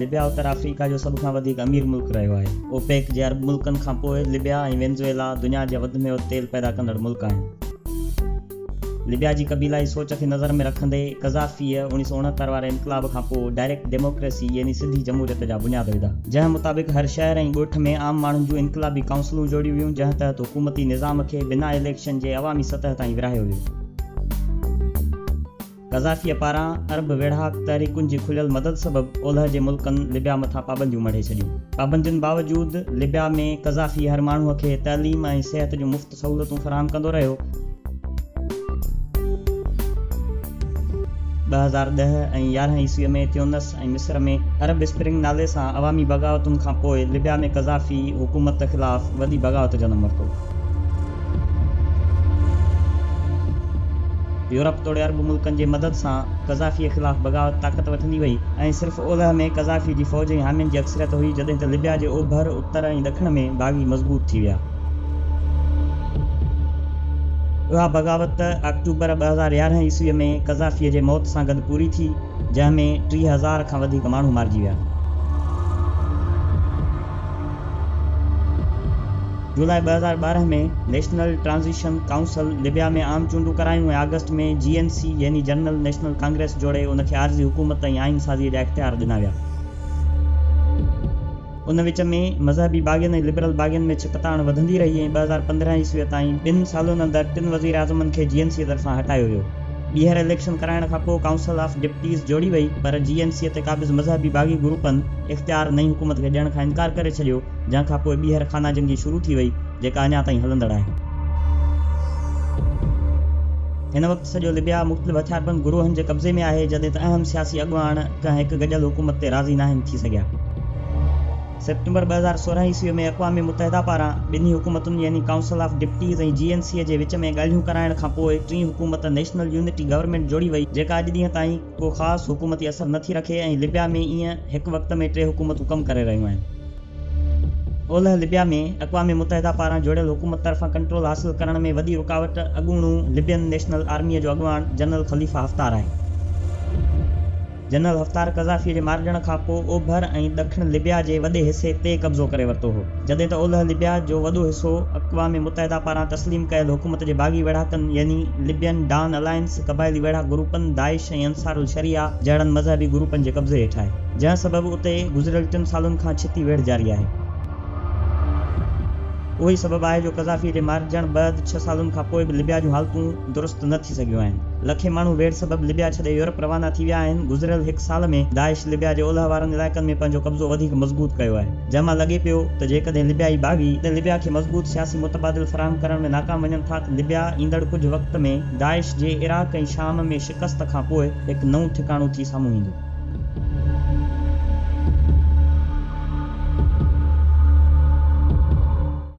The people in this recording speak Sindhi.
لبيا اتر آفريڪا جو سڀ کان وڌيڪ امير ملڪ رهيو آهي. اوپيڪ جي عرب ملڪن کان پوء لبيا ۽ وينزويلا دنيا جا وڌ ۾ وڌ تيل پيدا ڪندڙ ملڪ آهن. ليبيا جي قبيلائي سوچ کي نظر ۾ رکندي قذافيء اوڻيهه سؤ اڻهتر واري انقلاب کان پوء ڊائريڪٽ ڊيموڪريسي يعني سڌي جمهوريت جا بنياد وڌا، جنهن مطابق هر شهر ۽ ڳوٺ ۾ عام ماڻهن جون انقلابي ڪائونسلون جوڙيون ويون، جنهن تحت حڪومتي نظام کي بنا اليڪشن جي عوامي سطح تائين ورهايو ويو. قذافيء پاران عرب ويڙهاڪ تحريڪن جي کليل مدد سبب اولهه جي ملڪن لبيا مٿان پابنديون مڙهي ڇڏيون. پابندين باوجود لبيا ۾ قذافي هر ماڻهو کي تعليم ۽ صحت جون مفت سهولتون فراهم ڪندو رهيو. ٻه هزار ڏهه ۽ يارهن عيسويء ۾ تيونس، ۽ مصر ۾ عرب اسپرنگ نالي سان عوامي بغاوتن کان پوء لبيا ۾ قذافي حڪومت خلاف وڏي بغاوت جنم ورتو. يورپ توڙي عرب ملڪن جي مدد سان قذافيء خلاف بغاوت طاقت وٺندي وئي ۽ صرف اولهه ۾ قذافيء جي فوج ۽ حامين جي اڪثريت هئي جڏهن ته لبيا جي اوڀر، اتر ۽ ڏکڻ ۾ باغي مضبوط ٿي ويا. اها بغاوت آڪٽوبر ٻه هزار يارهن عيسويء ۾ قذافيء جي موت سان گڏ پوري ٿي. جنهن ۾ ٽي هزار کان وڌيڪ ماڻهو مارجي ويا. جولاء ٻه هزار ٻارهن ۾ نيشنل ٽرانزيشن ڪائونسل ليبيا ۾ عام چونڊون ڪرايون ۽ آگسٽ ۾ جي اين سي يعني جنرل نيشنل ڪانگريس جوڙي ان کي عارضي حڪومت ۽ آئين سازيء جا اختيار ڏنا ويا. ان وچ ۾ مذهبي باغين ۽ لبرل باغين ۾ ڇڪتاڻ وڌندي رهي ۽ ٻه هزار پندرهن عيسويء تائين ٻن سالن اندر ٽن وزيراعظمن کي جي اين سيء طرفان هٽايو ويو. ٻيهر اليڪشن ڪرائڻ کان پوء ڪائونسل آف ڊپٽيز جوڙي وئي پر جي اين سيء تي قابض مذهبي باغي گروپن اختيار نئين حڪومت کي ڏيڻ کان انڪار ڪري ڇڏيو جنهن کان پوء ٻيهر خانه جنگي شروع ٿي وئي جيڪا اڃا تائين هلندڙ آهي. هن وقت سڄو لبيا مختلف هٿياربند گروهن جي قبضي ۾ آهي جڏهن ته اهم سياسي اڳواڻ ڪنهن هڪ گڏيل حڪومت تي راضي ناهن ٿي سگهيا. سيپٽمبر ٻه هزار سورهن عيسوي ۾ اقوام متحده پاران ٻنهي حڪومتن يعني council of deputies ۽ G N سيء جي وچ ۾ ڳالهيون ڪرائڻ کان پوء ٽين حڪومت نيشنل يونٽي گورنمينٽ جوڙي وئي جيڪا اڄ ڏينهن تائين ڪو خاص حڪومتي اثر نٿي رکي ۽ لبيا ۾ ايئن هڪ وقت ۾ ٽي حڪومتون ڪم ڪري رهيون آهن. اولهه لبيا ۾ اقوام متحده پاران جوڙيل حڪومت طرفان ڪنٽرول حاصل ڪرڻ ۾ وڏي رڪاوٽ اڳوڻو لبين نيشنل آرميء جو اڳواڻ جنرل خليفه حفتار آهي. جنرل حفتار قذافيء جي مارجڻ کان پوء اوڀر ۽ ڏکڻ لبيا جي وڏي حصي تي قبضو ڪري ورتو هو، جڏهن ته اولهه لبيا جو وڏو حصو اقوام متحده پاران تسليم ڪيل حڪومت جي باغي ويڙهاڪن يعني لبين ڊان الائنس قبائلي ويڙهاڪ گروپن داعش ۽ انصار الشريعه جهڙن مذهبي گروپن جي قبضي هيٺ آهي، جنهن سبب اتي گذريل ٽن سالن کان ڇتي ويڙهه جاري آهي. اهو ئي سبب آهي جو قذافيء جي مارجڻ بعد ڇهه سالن کان پوء به لبيا جون حالتون درست نه ٿي سگهيون آهن. لکين ماڻهو ويڙهه سبب لبيا ڇڏي يورپ روانا ٿي ويا آهن. گذريل هڪ سال ۾ داعش لبيا جي اولهه وارن علائقن ۾ پنهنجو قبضو وڌيڪ مضبوط ڪيو آهي، جنهن مان لڳي پيو ته جيڪڏهن لبيائي باغي اڏ لبيا کي مضبوط سياسي متبادل فراهم ڪرڻ ۾ ناڪام وڃن ٿا ته لبيا ايندڙ ڪجهه وقت ۾ داعش جي عراق ۽ شام ۾ شڪست کان پوء هڪ نئون ٺڪاڻو ٿي سامهون ايندو.